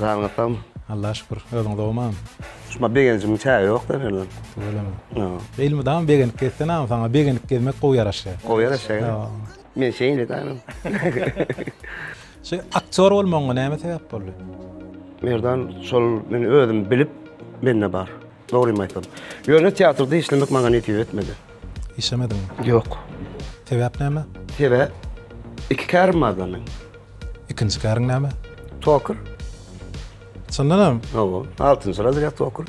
Janyňyz sagmy? Allaha şükür. Özüň sogmam? Şuma begenjimin çägi ýok da berilem. Öylemi? Ýa. Elmydama begenip gezsen agam saňa begenip gezmek gowy ýaraşýar. Gowy ýaraşýar. Ýa. Men şeýle daýym. Şu aktýor bolmagyňa näme sebäp boldy? Merdan şol men özüm bilip mende bar. Dogrymy aýtsam. Ýöne teatrda işlemek maňa nesip etmedi. Işlemediňmi? Ýok. Sebäp näme? Sebäp? Iki kärim barda meň. Ikinji käriň näme? Toker. Çyndanam? Hawa, altynjy razrýad toker.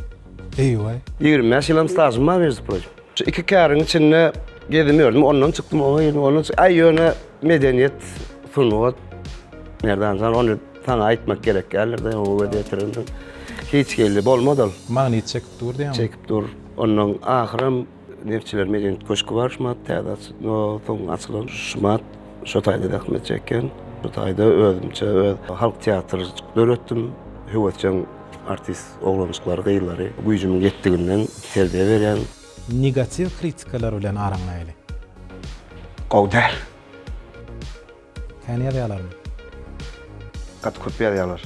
Eý-weý. Ýigrimi bäş ýylam stažym bar, mejzi proçim. Şu iki käriň içinde gezim ýördüm, ondan çykdym, oňa girdim, ondan çy. Aý, ýöne medeniýet, sungat, Merdan jan, ony. Saňa aýtmak gerek däldir-de, oňa göz ýetirende hiç geldi bolmaz ol. Magnyt çekip dur diýýäňmi? Çekip dur. Ondan ahyram Neftçiler medeniýet köşki bar şumat täze açy, no, soň açylan şumat şo taýda zähmet çekýän. Bu taýda özümçe öz halk teatr döretdim. Höwesjeň artist oglanjyklary, gyzlary güýjümiň ýetdiginden terbiýe berýän. Negatiw kritikalar bilen araňlaýaly. Gowy däl. Kän ýazýalarmy? Gaty köp ýazýalar.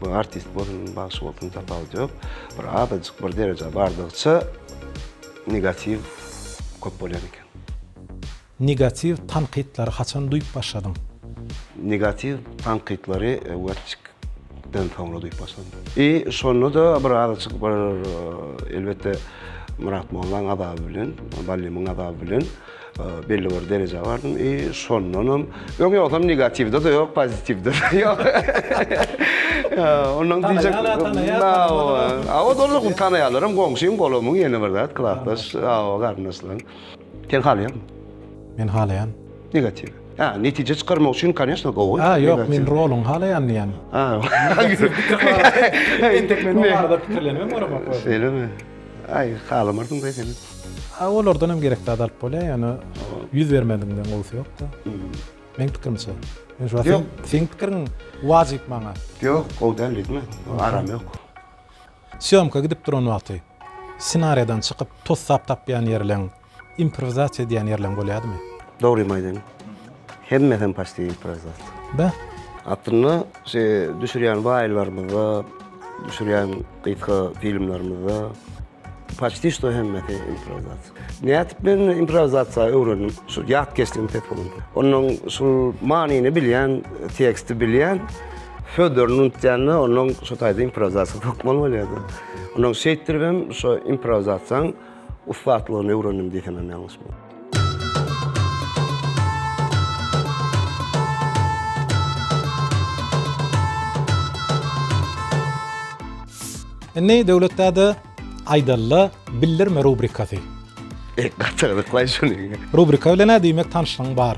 Bu artist bolsun, bagşy bolsun tapawudy ýok. Bir azajyk bir dereje bardygyça negatiw köp bolýan eken. Negatiw tankytlary haçan duýup başladyň? Negatiw tankytlary Watchik den soňra duýup başladym. I şonda da bir azajyk bir elbetde Myrat Mollaň azaby bilen, Ballymyň azaby bilen. Belli bir derejä bardym i şondanam öň ýogsam negatiwde-de ýok, pozitiwde-de ýok. Ondan diýjek. Tanaýanlar, tanaýan. Hawa. Hawa, doly tanaýanlarym, goňşym, golamym, ýene bir zat, klasdaş, hawa, garyndaşlarym. Sen halaýaňmy? Men halaýan. Negatiw. Hä, netije çykarmak üçin, конечно, gowy. Hä, ýok, men roluňy halaýan diýýän. Hä. Entek men o barada pikirlenibem göremok özüm. Şeýlemi? Aý halamarsyň da seni. A olardan hem gerek zat alyp bolýar ýöne ýüz bermedigiňden gowusy ýokda. Meň pikirimçe. Men şu wagt seň pikiriň wajyp maňa. Ýok gowy däl diýdim men. Aram ýok. Sýomka gidip duran wagty ssenariýadan çykyp tussap tapýan ýerleň. Improwizasiýa diýýän ýerleň bolýadymy? Dogrymy aýdaýyn. Hemmesem paçti improwizasiýa. Beh. Aslynda şu düşürýän waýllarymyzda, düşürýän gysga filmlerimizde paçti şto hemmesi improwizasiýa. Nädip men improwizasiýa öwrendim? Şu ýat geçdigim ses bolan. Onuň şu manyny bilýän, teksti bilýän sözlerini unutýanda onuň şu taýda improwizasiýa hökman bolýardy. Onuň şeýtdiribem şu improwizasiýaň ussatlygyny öwrendim diýsemem ýalňyş bolmaz. Indi Döwletdada aýdalla bildirme rubrikasy. Gaty gyzyklaý şuny. Rubrika bilen-ä diýmek tanşlygyň bar.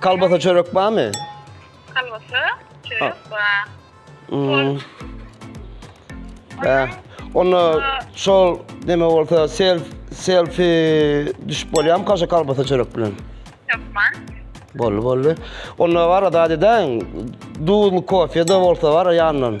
Kalbasa çörek barmy? Kalbasa çörek bar. Hmm. Ee, Onda şol neme bolsa self selfie düşüp bolýarmy kaşa kalbasa çörek bilen? Ýokman. Bolly bolly. Onda var da deden duzlu kofe de bolsa var ýandan.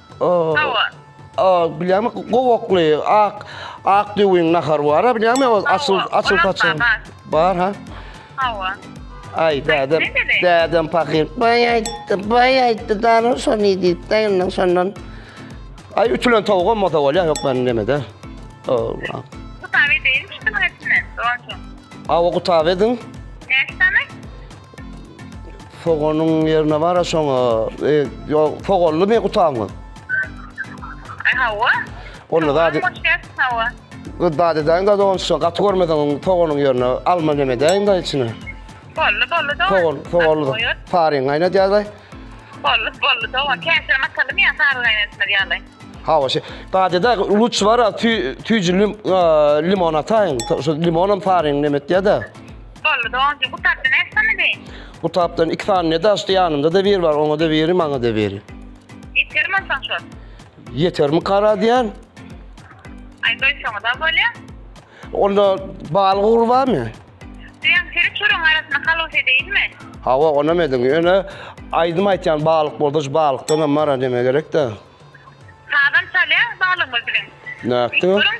Bilýämi, gowakly, ak, ak düwüň nahary bar, bilýämi, o açyl, açyl saçyň. Bar, ha? Hawa. Ay dädem, dädem fakir. Bay ayttı, bay ayttı, darın son idi, dayının sondan. Ay ütülen tavuk olmasa ol ya, yok ben deme de. Allah. Kutabe değil mi şunun etine, doğru. Ava kutabe edin. Ne tane? Soganyň ýerine bar-a şoňa. E, ýo, soganly me gutaňyz? E, hawa. Onda zady... Hawa. Gyz zady edäýiň zady on şo, gaty görmeseň oň soganyň ýerine alma neme edäýiň da içine. Bolly, bolly da. Sogan, soganly. Saryň gaýnadýaly. Bolly, bolly da. Käşir masalymy ýa sary gaýnatmaly ýaly. Hawa, şe. Zady edä, luç bar-a, tü, tüýjülim, limon ataýyň. Şo limonam saryň neme etýä-de. Boldy doganjy gutapda näçe sany deý. Gutapdan iki sany ne daşdy ýanymda da biri bar oňa da biri maňa da biri. Ýeter mi onsoň şol. Ýeter mi kara diýän. Aý goý şoňa da bolýa. Onda bal gugry barmy? Diýen seri çörüň arasyna halos edeýinmi? Hawa onam ediň ýöne aýdym aýtýan balyk bolsa şu balykdanam mara deme gerek da. Sazam çalýa balygymyz bilen. Nätdi o? Görüň.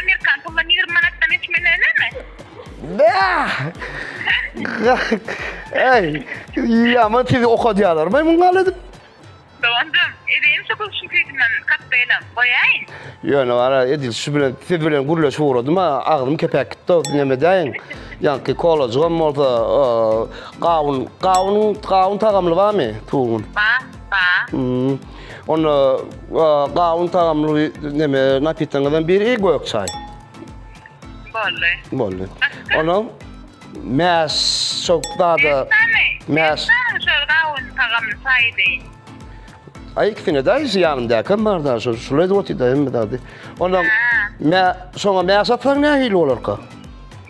Amerikan pulundan ýigrimi manatdan geçmeli dälemi? Bäh! Eý, ýama sizi okadýarlarmy muň gal edip? Doganjym, edeýin şu gülüşiň süýdünden kokteýlam, goýaýyn? Ýöne gara, edil şu bilen, siz bilen gürleşip ugradym-a, agzym kepäp gitdi-ow, näme edäýin? Ýaňky kolajygam bolsa, gawun, gawun, gawun tagamly barmy? Tugun. Bar, bar. Onda gawun tagamly neme napityňyzdan biri gök çay. Boldy. Boldy. Ona mäs şok dada mäs gawun tagamly çay deyin. Ay ikisine de şu yanımdaki hem var da şu şulay da otu da hem de hadi. Ona mä şoňa mäs atsaň nähili bolarka?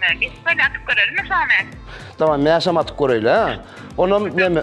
Mäs atyp görelim mi şoňa? Tamam mäs hem atyp göreýle. Onam neme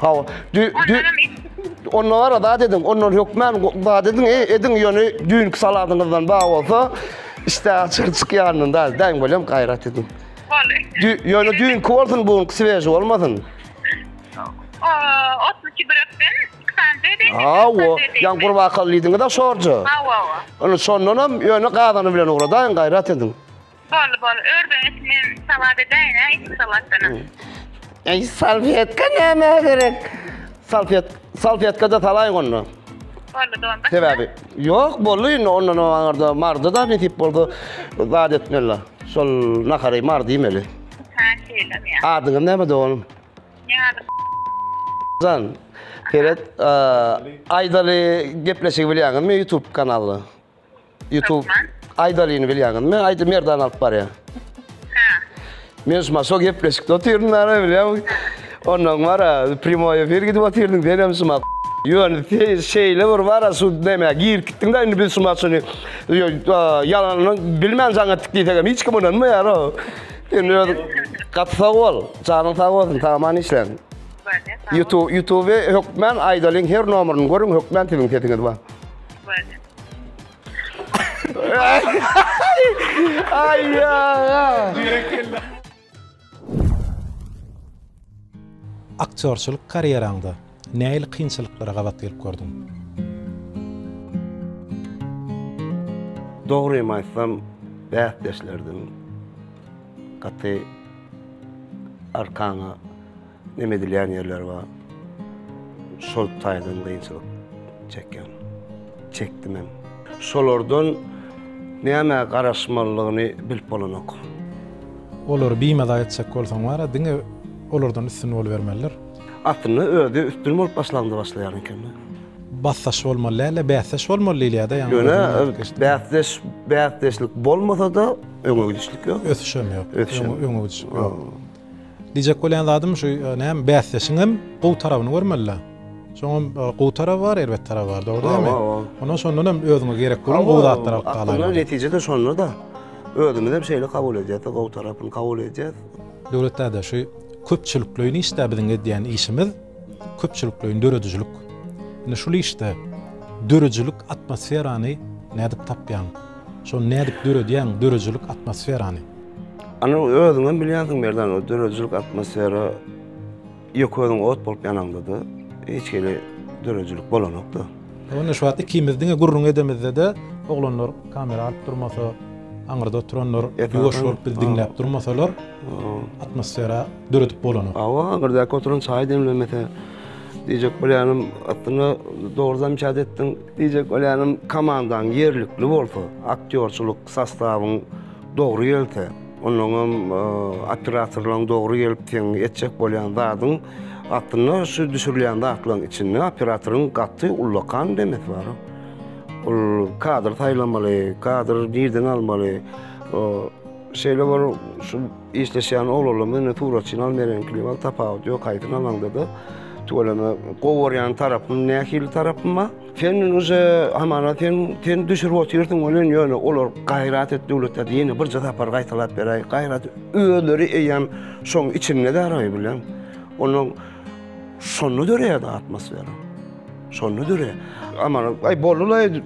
Hawa. Dü, dü, onda var adat edin, ondan hökmen adat edin, e, edin ýöne düýnki saladyňyzdan bar bolsa, işte açyr çykýandan da, däň bolýan gaýrat edin. Boldy. Dü, ýöne düýnki bolsun, bu gün svež bolmasyn. O, 32 brekden, ksanze de. Hawa, ýan gurbakal diýdiňiz-a şorja. Hawa, hawa. Ony şondan hem ýöne gazany bilen ugradaýyň, gaýrat edin. Boldy boldy ördeňiz men salat edäýin hä içki salatdanam. Eý salfetka nämä gerek? Salfet salfetkada salaýyň onda. Boldy dolma. Sebäbi ýok boldy indi ondan aňarda mardy da nesip bolsa zat etmeli. Şol nahary mardy iýmeli. Ha şeýlem ýa. Adyňyz näme doganym? Ne adyň? Jan, seret, eee, Aýdaly gepleşigi bilýäňizmi YouTube kanaly? YouTube Aýdalyny bilýäňizmi? Aýdy Merdan alyp barýar. Men şu maşo gepleşikde otyryn nara bilýän. Ondan bara primoý efir gidip otyryn sen hem şuma. Ýöne şeýle bir bara şu näme gir gitdiň da indi biz şu maşyny ýalanyny bilmän jaň etdik diýsek hem hiç kim ynanmaýar o. Indi öz gaty sag bol. Janyň sag bolsun. Tamam işleň. YouTube YouTube hökmän Aýdalyň her nomerini görüň hökmän siziň sesiňiz bar. Ay ya. Aktýorçylyk karýeraňda nähili kynçylyklara gabat gelip gördüň? Dogrymy aýtsam, bäsdeşlerdim. Gaty arkaňa Emedilýän ýerler bar. Şol taýdan gynçylyk çekýän. Çekdim hem. Şolardan nämä garaşmalydygyny bilip bolanok. Olary bimaza etjek bolsaň bar-a, diňe olardan üstün bolubermelidir. Aslynda özi üstün bolup başlanda başlaýan ekeni. Basdaş bolmaly däl-de, bäsdeş bolmaly diýilýär-de, ýaňy özüňden aýdyp geçdiň. Ýöne bäsdeş, bäsdeşlik bolmasa-da öňe gidişlik ýok. Ösüş hem ýok. Ösüş hem ýok. Öňe gidişlik ýok. Diýjek bolýan zadym şu näme bäsdeşiňem gowy tarabyny görmelidä. Şoňam gowy taraby bar, erbet taraby bar, dogry diýämi? Onda şondan hem özüňe gerek bolan gowy zatlary alyp galaýmaly. Aslynda netije-de şonda-da. Özümizem şeýle kabul edýäs-de, gowy tarapyny kabul edýäs. Döwlet däde, şu köpçülikleýin işde biziň edýän işimiz köpçülikleýin döredijilik. Indi şul işde dörüjilik atmosferany nädip tapýaň? Şony nädip döredýäň, dörüjilik atmosferany? Ana özüňem bilýänsiň Merdan, o döredijilik atmosfera ýöke özüň ot bolup ýanaňda-da, hiç hili döredijilik bolanok-da. Onda şu wagt ikimiz diňe gürrüň edemizde-de, oglanlar kamera alyp durmasa, aňyrda oturanlar ýuwaş bolup bizi diňläp durmasalar, atmosfera döredip bolanok. Hawa, aňyrdaky oturan çaý demlemese, diýjek bolýanym, aslynda dogry zamçat etdiň. Diýjek bolýanym, komandaň ýerlikli bolsa, aktýorçylyk sostawyň Dogry gelse, onnoňam operatorlaryň dogry gelip seň etjek bolýan zadyň aslynda şu düşürilýän zatlaryň içinde operatoryň gaty ullakan demesi bar. Ol kadr saýlamaly, kadr nirden almaly. Şeýle bir şu işleşýän oglanlaryň bilen suratçyny alyp bereniňkiligiň wagt tapawudy ýok, haýsyny alaňda-da tüweleme gowy görýän tarapym nähili tarapym bar. Sen uje hamana sen sen düşürip otyrsyň welin ýöne olar gaýrat et döwletde diýeni birje sapar gaýtalap beräý. Gaýrat özleri eýýäm şoň içinde däraý bilen. Onuň şonda döreýär atmosfera. Şonda döreýär. Amana aý bolulaý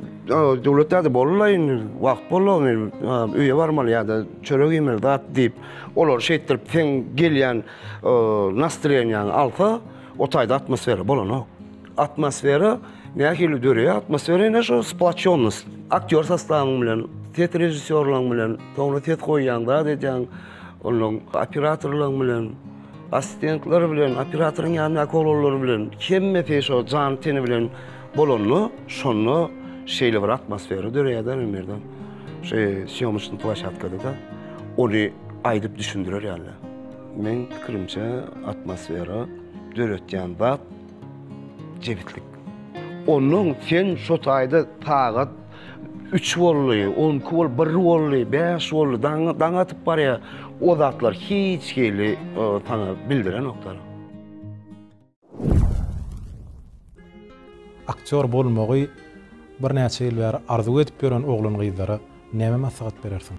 döwletde de bolulaý indi wagt bolany öýe barmaly ýa-da çörek iýmeli zat diýip olar şeýtdirip sen gelýän nastroýeniýaňy alsa o taýda atmosfera bolanok. Atmosfera nähili döreýär? Atmosfera ine şu splatçonnost. Aktýor sostawyň bilen, ses režissýorlaryň bilen, soňra ses goýýaň, zat edýäň, onuň operatorlaryň bilen, assistentler bilen, operatoryň ýanyndaky oglanlar bilen, hemmesi şo jany-teni bilen bolanda, şonda şeýle bir atmosfera döreýär-de, Merdan. Şu sýomyşny plaşatkada-da ony aýdyp düşündirer ýaly. Meň pikirimçe, atmosfera döretýän zat, Jebislik. Onnoň sen şo taýda sagat üç boldy, on iki bol, bir boldy, bäş boldy, daň, daň atyp barýa. O zatlar hiç hili saňa bildirenoklar. Aktýor bolmagy birnäçe ýyl bäri arzuw edip ýören oglan-gyzlara näme maslahat berersiň?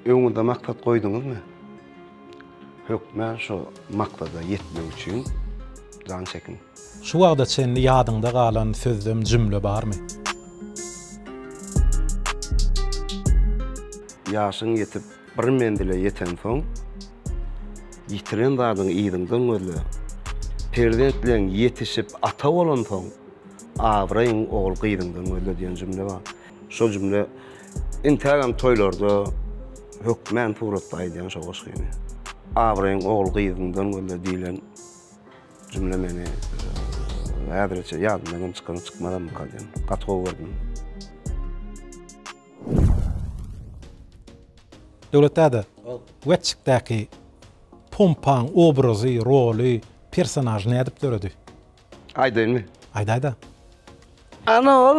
Öňüňizde maksat goýduňyzmy? Hökmä şo maksada ýetmek üçin jan çekiň. Şu wagta çenli ýadyňda galan sözlem, jümle barmy? Ýaşyň ýetip, bir menzile ýetensoň, ýitiren zadyňy yzyňdan gözle. Perzentleň ýetişip, ata bolansoň, abraýyň ogul-gyzyňdan gözle diýen jümle bar. Şol jümle intägem toýlarda hökmän suratda aýdýan şo goşgyny. Abraýyň ogul gyzyňdan gözle diýlen jümle meni häzirçe ýadymdan hem çykan çykmazamyka diýen. Gaty gowy gördüm. Döwlet däde, Wetçikdäki pompaň obrazy, roly, personažy nädip döredi? Aýdaýynmy? Aýdaýda. Ana ol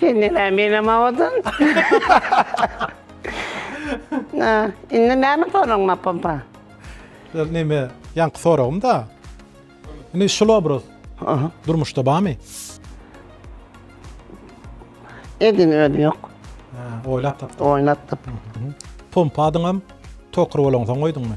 Sen näme menem awadan? Na, indi näme soragyň mapampa? Şol neme, ýaňky soragym-da. Indi şul obraz Aha. durmuşda barmy? Edin özi ýok. Ha, oýlap tapdyň. Oýnatdyp. Pompa adyňam Tokar bolansoň goýduňmy?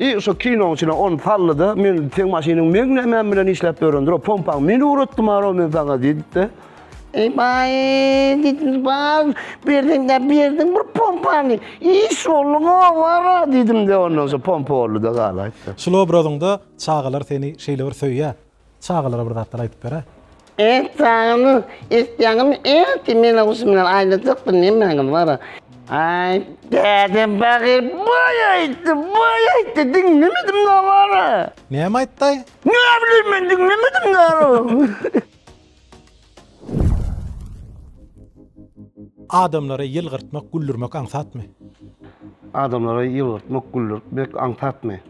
I şo kinoň içine on sallyda men seň maşynyň meň nämäm bilen işläp ýörendir o pompaň meni uratdy maro men saňa diýdipdi. Ey baý diýdim bag berdiň de berdiň bir pompany iş bolduň owara diýdim de ondan soň pompa boldy da gala aýtdy. Şul obrazyňda çagalar seni şeýle bir söýýär. Çagalara bir zatlar aýdyp beräý. Et sagynyz isleýäňizmi et meni guşum bilen aýlajak bir nemäňiz bara. Aý däde bagyr boý aýtdy boý aýtdy diňlemedim da bara. Näme aýtdaý? Näbileyim men diňlemedim da. Adamlary ýylgyrtmak, güldürmek aňsatmy? Adamlary ýylgyrtmak, güldürmek aňsatmy?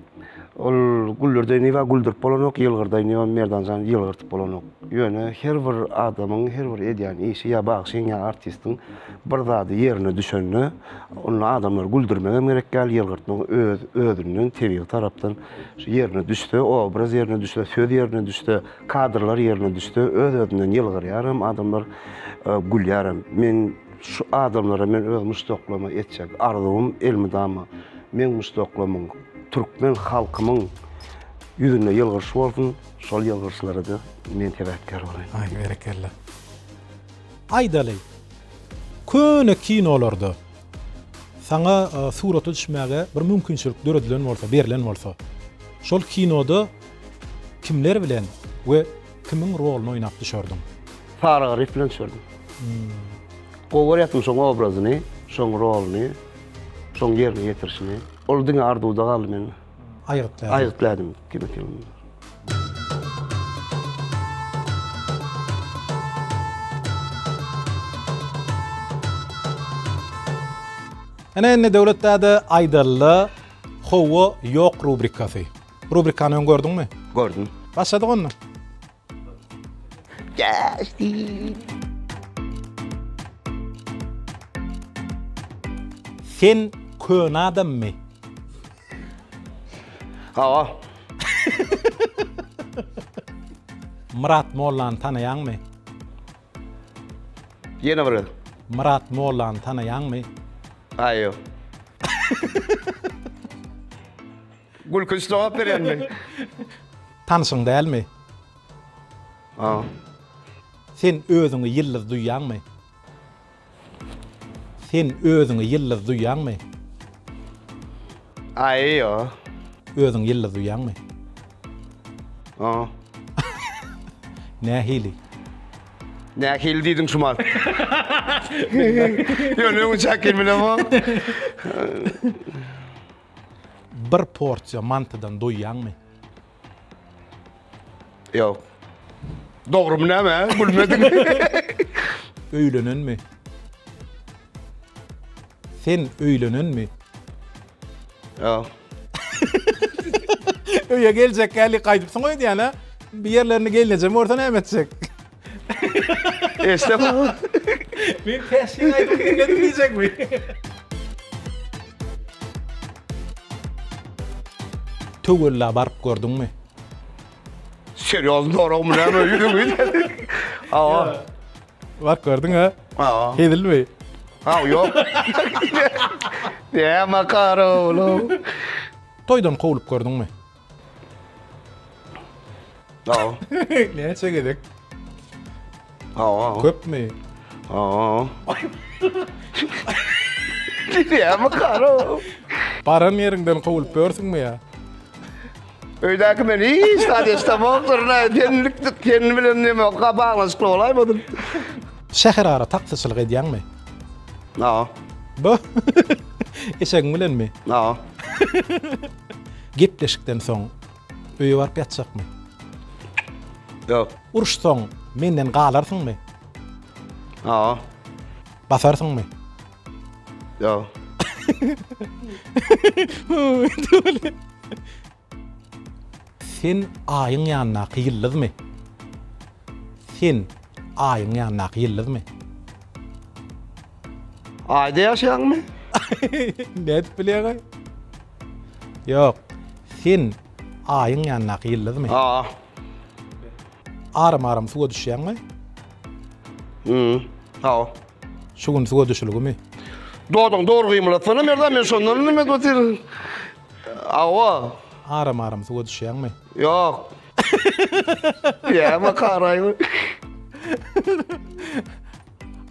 Ol güldürdeý niwa güldürip bolanok, ýylgyrdaý niwa Merdan jan ýylgyrtyp bolanok. Ýöne her bir adamyň her bir edýän işi ýa bagşyň ýa artistiň bir zady ýerine düşende onda adamlary güldürmegem gerek däl, ýylgyrtmak öz özünden tebigy tarapdan ýerine düşse, obraz ýerine düşse, söz ýerine düşse, Kadrlar ýerine düşse öz-özünden ýylgyrýar hem adamlar gülýär hem. Meň şu adamlara men öz muşdaklaryma etjek arzuwym elmydama meň muşdaklamyň türkmen halkymyň ýüzünde ýylgyryş bolsun, şol ýylgyryşlarada men sebäpkär bolaýyn. Aý berekella. Aýdaly, köne kinolarda saňa surata düşmäge bir mümkinçilik döredilen bolsa, berlen bolsa, şol kinoda Kimler bilen we kimiň roluny oýnap düşerdiň? Saryga Rif bilen düşerdim. Gowy görýärdim şoň obrazyny, şoň roluny, şoň ýerine ýetirişini. Ol diňe arzuwda galdy mende. Aýgytlaýardy. Aýgytlaýardy kinofilmde. Ine indi Döwlet däde aýdally, Hawa, ýok rubrikasy. Rubrikany öň gördüňmi? Gördüm. Başladyk onda. Geldi. Sen köne adammy? Hawa. Myrat Mollany tanaýaňmy? Ýene bir gezek. Myrat Mollany tanaýaňmy? Aýo. Gülkünç jogap berýändiň. Tanyşyň dälmi? Hawa. Sen özüňi ýyldyz duýýaňmy? Sen özüňi ýyldyz duýýaňmy? Aý, ýo. Özüňi ýyldyz duýýaňmy? Hawa. Nähili? Nähili diýdiň şu mal? Ýöne öňe çäk gelmelem o. Bir porsiýa mantydan doýýaňmy? Ýok. Dogrymy näme? Gülmediň. Öýlenenmi? Sen öýlenenmi? Ýok. Öýe geljek hälli gaýdypsyň öýdýän-ä. Bir ýerlerini gelnejem görse näme etjek? Eşde bak. Men keşke aydım dinledim diyecek mi? Töwella baryp gördüňmi? Serýoz dorag mı näme ýüzüňi? Awa. Bak gördüň ha? Awa. Hezilmi? Ha yok. Näme karowlu? Toýdan kowlup gördüňmi? Aw. Näçe gezek? Aw aw. Köpmi? Aw. Diýämi karo. Baran ýeriňden kowulyp börsüňmi ýa? Öýdäki men hiç zat eşdemok durna. Tenlik ten bilen neme gabalaşykly bolaýmadym. Şäher ara taksyçylyk edýäňmi? Aw. Bu. Eşegiň bilenmi? Aw. Gepleşikden soň öýe baryp ýatjakmy? Ýok. Uruş soň menden galarsyňmy? Hawa. Basarsyňmy? Ýok. Sen Aýyň ýanyndaky ýyldyzmy? Sen Aýyň ýanyndaky ýyldyzmy? Aýda ýaşaýaňmy? Nädip bilýäňaý? Ýok. Sen Aýyň ýanyndaky ýyldyzmy? Aa. Aram-aram suwa düşýäňmi? Ýy. Haw. Şu gün suwa düşülgimi? Dodagyňy dogry gymylatsana Merdan, men şondan indi men otyr. Awa. Aram aram suwa düşýäňmi? Ýok. Ýa-ma karaýmy?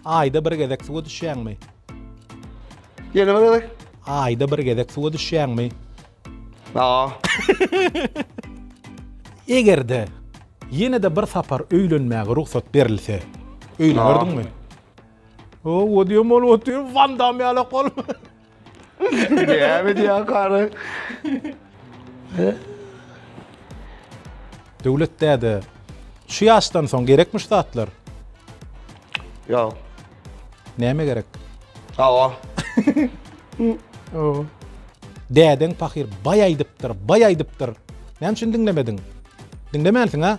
Aýda bir gezek suwa düşýäňmi? Ýene bir gezek. Aýda bir gezek suwa düşýäňmi? Ýa. Eger-de ýene-de bir sapar öýlenmäge rugsat berilse, öýlenerdiňmi? O, o diýen bolup otyr, Wandam ýalak bolup. Näme edýär kary? Döwlet däde, şu ýaşdan soň gerekmi şu zatlar? Ýok. Näme gerek? Hawa. Hawa. Dädeň pahyr baý aýdypdyr, baý aýdypdyr. Näme üçin diňlemediň? Diňlemänsiň-a?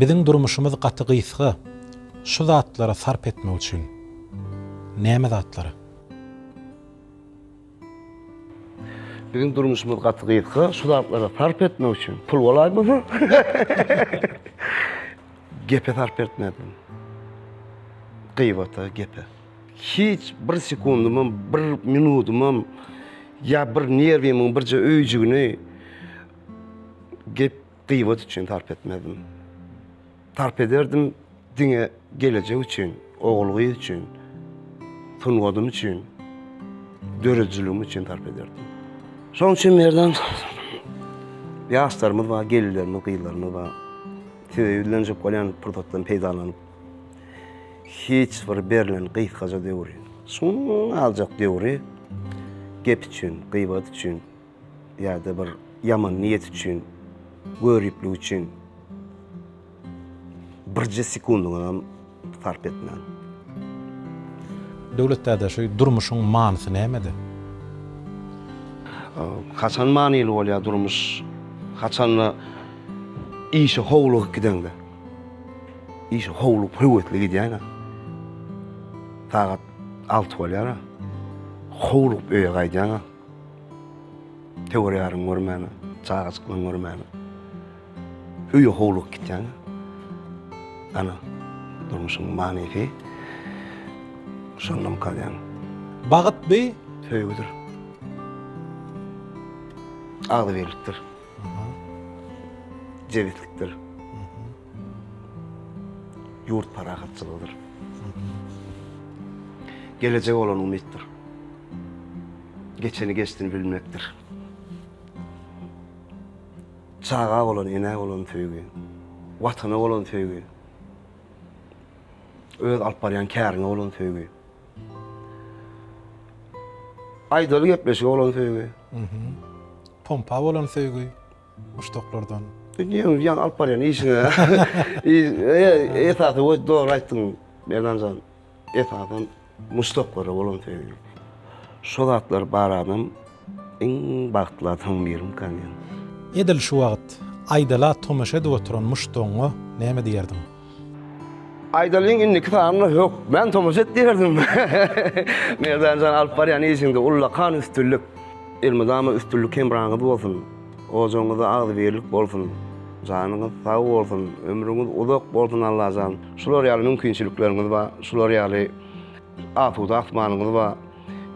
Biziň durmuşymyz gaty gysga şu zatlara sarp etmek üçin. Näme zatlara? Biziň durmuşymyz gaty gysga şu zatlara sarp etmek üçin. Pul bolaýmasa. Gepe sarp etmezdim. Gybata, gepe. Hiç bir sekundymam, bir minudymam ýa bir nerwimiň birje öýjügini gep, gybat üçin sarp etmezdim. Sarp ederdim diňe gelejek üçin, ogul-gyz üçin, sungadym üçin, döredijiligim üçin sarp ederdim. Şonuň üçin Merdan ýaşlarymyz bar, gelinlerimiz, gyzlarymyz bar. Size ýüzlenjek bolýan pursatdan peýdalanyp. Hiç bir berlen gysgaja döwri, şuňňaljak döwri gep üçin, gybat üçin ýa-da bir ýaman niýet üçin, göriplik üçin birje sekundyňyzam sarp etmäň. Döwlet däde şu durmuşyň manysy nämede? Haçan manyly bolýar durmuş? Haçanda işe howlugyp gideňde. Işe howluk, höwesli gidýäýin-ä. Sagat alty bolýar-a. Howlugyp öýe gaýdýaň-a. Töwer-ýaryňy görmän-ä, çagajyklaňy görmän-ä. Öýe howlugyp gitýäň-ä. Ana, durmuşyň manysy şondam galýan. Bagyt bi? Söýgüdir. Agzybirlikdir. jebislikdir, ýurt parahatçylygydyr. Gelejege bolan umytdyr. Geçeni geçdini bilmekdir. Çaga bolan, enä bolan söýgi, watana bolan söýgi, öz alyp barýan käriňe bolan söýgi. Aýdaly gepleşige bolan söýgi. Pompa bolan söýgi muşdaklardan. Diýiň, ýaňy alyp barýan işiňe. Esasy we dogry aýtdyň, Merdanjan. Esasan muşdaklara bolan söýgi. Şo zatlar bar adam Iň bagtly adam birim kanyň. Edil şu wagt Aýdala tomaşa edip oturan muşdagyňa näme diýerdiň? Aýdalyň indiki sanyna hökmän tomaşa et diýerdim. Merdanjan alyp barýan işiňde ullakan üstünlik. Elmydama üstünlik hemraňyz bolsun. Ojagyňyzda agzybirlik bolsun. Janyňyz sag bolsun. Ömrüňiz uzak bolsun Allajan. Şular ýaly mümkinçilikleriňiz bar. Şular ýaly asuda asmanyňyz bar.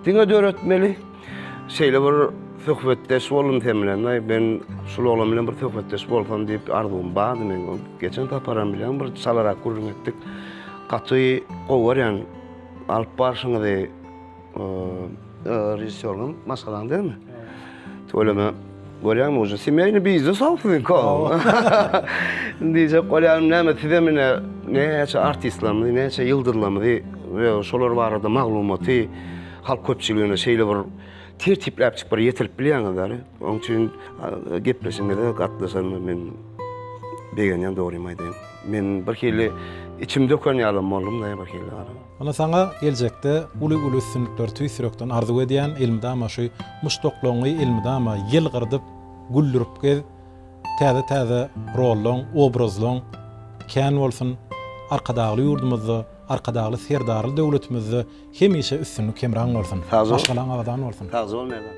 Diňe döretmeli. Şeýle bir söhbetdeş boldum sen bilen. Aý, men şul oglan bilen bir söhbetdeş bolsam diýip arzuwym bardy men. Geçen saparam bilen bir çalarak gürrüň etdik. Gaty gowy görýän alyp barşyňyzy, režissýorlaň maşgalaň dälmi? Tüweleme, görýäňmi, uje semýaýny biznes-ow siziňki ow. Diýjek bolýarym, näme, sizem ine, näçe artistlerimizi, näçe ýyldyzlarymyzy we şolar barada maglumaty halk köpçüligine şeýle bir tertipläpjik bir ýetirip bilýäňiz däli. Onuň üçin gepleşigiňize gatnaşanyma men begenýän, dogrymy aýdaýyn. Men birhili içim döken ýalam boldum-da birhili. Ynha saňa geljekde uly uly üstünlikleri tüýs ýürekden arzuw edýän elmydama şu muşdaklaňňy elmydama ýylgyrdyp güldürip gez täze täze rollaň obrazlaň kän bolsun arkadagly ýurdumyzda arkadagly serdarly döwletimizde hemişe üstünlik hemraň bolsun maşgalaň abadan bolsun. Sagja bol Merdan.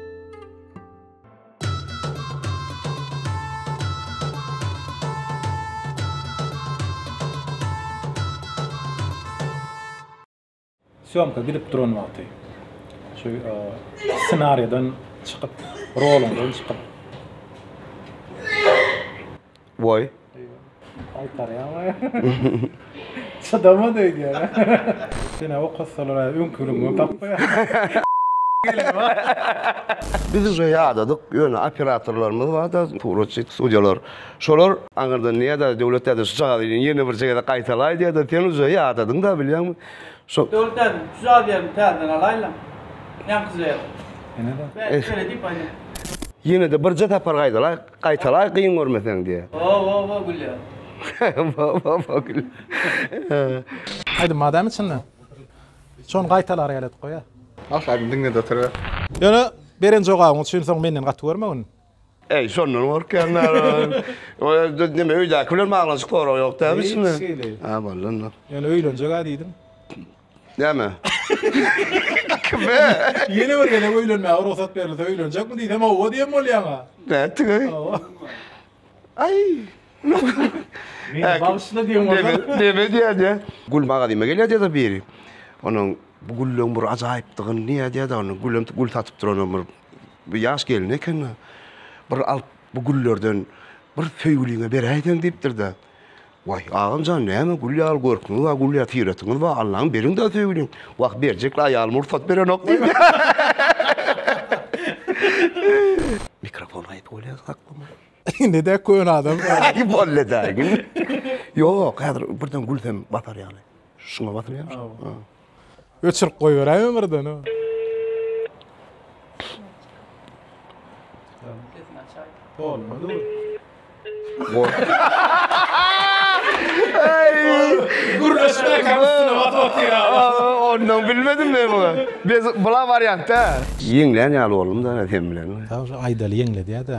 Sýomka gidip duran wagty şu ssenariýadan çykyp, roluňdan çykyp, Woý. Çydamaz öýdýän. Seni okatsalar aý öňki ýylyňdan tapmaýarsyň. Biz uje ýadadyk ýöne operatorlarymyz barda suratçy studiýalar şolar aňyrdan nädä Döwlet däde şu çagany ýene birje gezek gaýtalaý diýýärdi sen uje ýadadyň da bilýäňmi şo Döwlet däde şu çagany ýerini täzeden alaýla ýaňkyja ýaly. Ýene-de. Ýene-de birje sapar gaýdalaý. Gaýtalaý gyn görmeseň diýýär. Wo wo wo gülýär. Wo wo wo gülýär. Aýdym badamy içinde? Şony gaýtalar ýaly edip goýa. Halk aýdym diňledi oturyber. Ýöne beren jogabyň üçin soň menden gaty görmegin. Eý şondan gorkýan nalan. Ýöne neme öýdäki bilen baglanyşyk sorag ýok dämi içinde? Hiç hili. Hä boldy onda. Ýöne öýlenjeg-ä diýdim. Näme? Kime? Ýene bir gezek öýlenmäge rugsat berilse öýlenjekmi diýsem hawa diýen bolýaň-a. Nätdiňi? Hawa. Aý. Meni bagyşla diýen bolsa. Näme diýýän ýa? Gül magazyna gelýär diýýär-de biri. Onuň bu gülleň bir ajaýypdygyny diýýär diýýär-de, onuň gülem gül satyp duranam bir bir ýaş gelin eken-de. Bir alyp bu güllerden bir söýgüliňe beräýseň diýipdir-de. Waý, agam jan, näme gül ýaly görküňiz bar, gül ýaly syratyňyz bar, Allaň beriň-dä söýgüliň. Wah, berjekli aýalym rugsat berenok diýdi. Mikrofon gaýyp bolýar saklama. Ine-dä köne adam. Aý, bolly-da, gül. Ýok, häzir birden gülsem batar ýaly. Şuňa basylýarmyş. Öçürip goýberäýme birden. Olmaly. Gürleşme kamerasına bat bat ya. Ondan bilmedim ben bunu. Biz bula varyantta. Ýeňlän ýaly boldum-da ene sen bilen. Sag ol, Aýdaly ýeňledi-ýa-da.